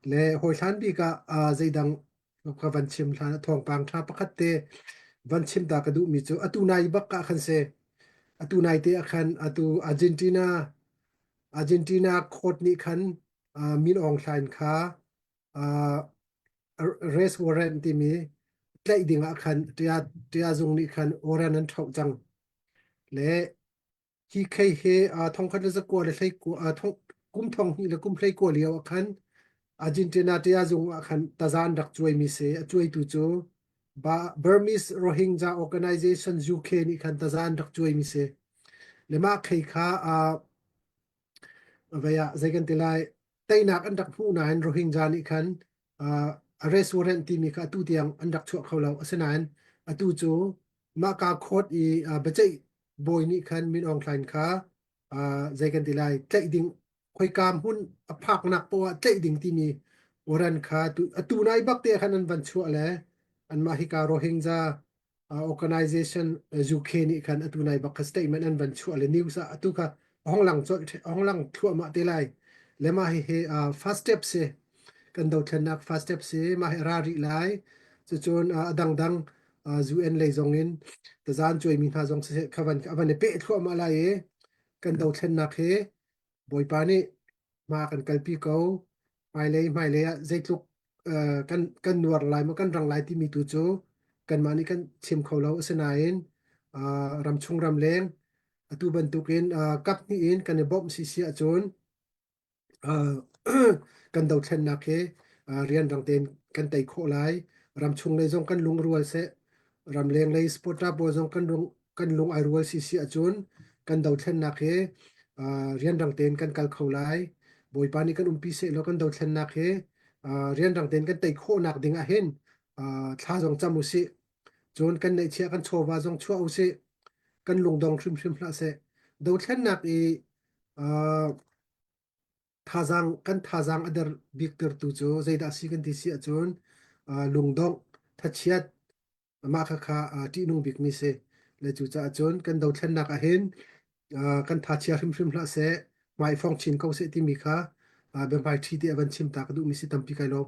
Le hawi hlan bik ah ah zeidang ka van chim hlan a thawngpang ṭha pakhat te van chim ta ka duhmi cu atu nai bak ka khan se atu nai te ah khan atu Argentina Argentina court nih khan uh, Min Aung Hlain kha uh, arrest warrant timi tlaih ding ah khan tia tia zung nih khan warrant an thoh cang le Hi khei he a thong khat le zakua le hlei kua a thong kum thong hnih le kum hlei kua lio ah khan Argentina te a zung ah khan tazan rak cuai mi se a cuai tu cu ba Burmese Rohingya Organization UK nih khan tazan rak cuai mi se le mah khei kha a vaya zeikan te lai teinak an rak hmu nain Rohingya nih khan arrest warrant timi kha atu tiang an rak chuah kho lo asinain atu cu mah ka court i baceih bawi nih khan Min Aung Hlain kha uh, zei kan ti lai tlaih ding khoikam hun a phaknak poah tlaih ding timi oran kha tu atu nai bak te khan an van chua le anmah hi ka Rohingya uh, organization UK nih khan atu nai bak kha statement an van chua le news ah atu kha hong lang chol hong lang thua ma te lai le ma hi he uh, first step se kan do thlennak first step se ma he ra ri lai chu chun uh, dangdang UN lei zong in tazan cuaimi hna zong siseh kha van van i peh thluahmah lai i kan dothlennak hi bawipa nih hma kan kalpi ko hmailei hmailei ah zeitluk kan kan nuar lai maw kan rang lai timi tu cu kanmah nih kan chim kho lo asinain ramchung ramleng atu bantukin kap hnih in kan i bawmh si si ahcun kan dothlennak hi rianrang tein kan tei khawh lai. Ramchung lei zong kan lungrual seh, ramleng lei sport pawl zong kan lung kan lung ai rual si si ahcun kan dothlennak hi rianrang tein kan kal kho lai. Bawipa nih kan umpi sehlaw kan dothlennak hi rianrang tein kan tei khawhnak ding ah hin thla zong cam u sih. Cun kan neihchiah kan chawva zong chuah u sih. Kan lungdong hrimhrim hlah seh. Dothlennak i Thazaang kan thazaang a der biktertu cu zeidah a si kan ti si ahcun lungdongh, thachiat, mah khakha ṭihnung bikmi si. Le cucaah cun kan dothlennak ahhin kan thachia hrimhrim hlah seh, hmai fong chin ko seh timi kha biahmaiṭhi te a van chim ta ka duhmi si tampi kai lawm.